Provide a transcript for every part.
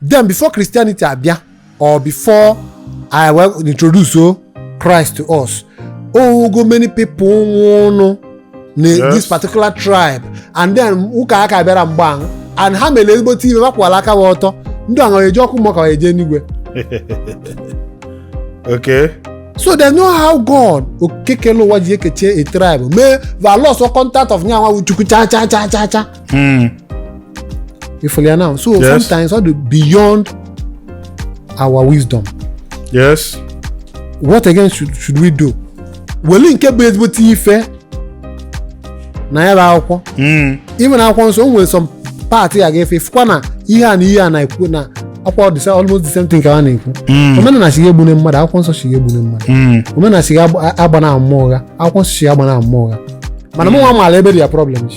then before christianity abịa or before e wee introduce o christ to us o nwego many people nwụlụ na Yes. this particular tribe and then ụka aka bịarọ mgbe ahụ and ha mere ezigbote ife ma kwụba aka ha ọtọ ndị ahụ eje ọkụ mmụọ ka ha eje n'igwe okay so they know how god okekele ụwa ji ekechie a tribe mee valos contact of nyanwa chukwu cha cha cha cha cha Hmm. Ị fụlụ now. So yes. sometimes what do beyond our wisdom. Yes. What again should, should we do? Wele nke bụ ezigbote ife na ya bụ akwụkwọ. Hmm. Even na akwụkwọ nsọ o nwere some part ya ga-efe ị fụkwa na ihe a na ihe a na-ekwu na akwụkwọ dịsa almost the same thing ka a na-ekwu hmm. omenala sị egbune mmadụ akwụkwọ nsọ sị egbune mmadụ hmm. omenala sị agbana ama ụgha akwụkwọ nsọ sị agbana ama ụgha mana mụnwa maara ebe dị ya problem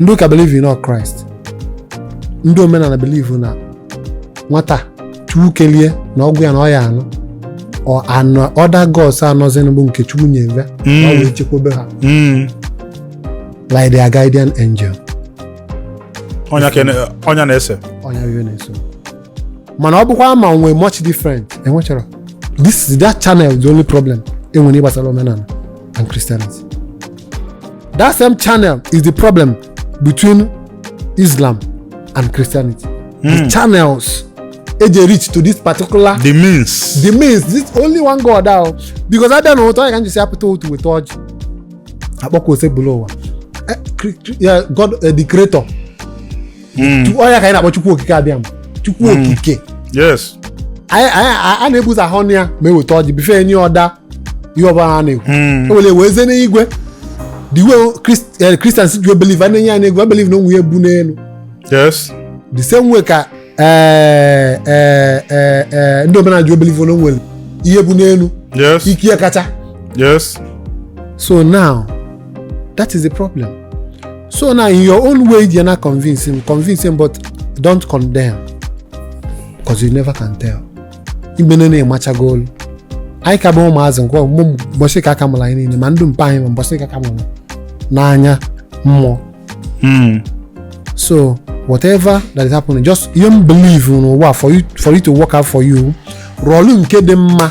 ndị ụka believe na ọ Christ ndị omenala believe na nwata chukwu kelie na ọgwụ ya na ọya anụ ọ anụ other gods a nọzi bụ nke chukwu nyere Mm. ya wee chekwebe ha Mm. like their guardian angel Ọ nya ka ị na- ọ nya na-ese ọnya iwe na-eso mana ọ bụkwa ma nwee much different enwechara this is that channel the only problem enwere gbasara omenala and Christianity that same channel is the problem between Islam and Christianity the hmm. channels eji reach to this particular the means the means this only one God ahụ because abịa na ụtọ ya ka m ji sị a pụta ụtụtụ weta ọjị a kpọkuo Osebuluwa eh, God eh, the creator hmm. ọ nya ka anyị na-akpọ chukwu okike abịama chukwu hmm. okike a na-ebuzi ahụ ọnụ ya ma eweta ọjị bife enye ọda ihe ọbụla a na-ekwu hmm. ewere wee zie n'igwe the way eh, Christians ji believe a na-ene anya n'igwe a believe na o nwe onye bu n'elu the same way ka eh, eh, ndị omenala ji believe na o nwere ihe bu n'elu ike ya kacha so now that is the problem so na in your own way you na convince him convince him but don't condemn because you never can tell igbene na-emachago olu anyị ka bụ ụmụazị nke ọmụmụ mbọsị ka aka mụrụ anyị niile ma ndị mpa anyị ma mbọsị ka aka mụrụ n'anya mmụọ Mm. so whatever that is happening just ihe m believe n'ụwa for you for it to work out for you rọlụ nke dị mma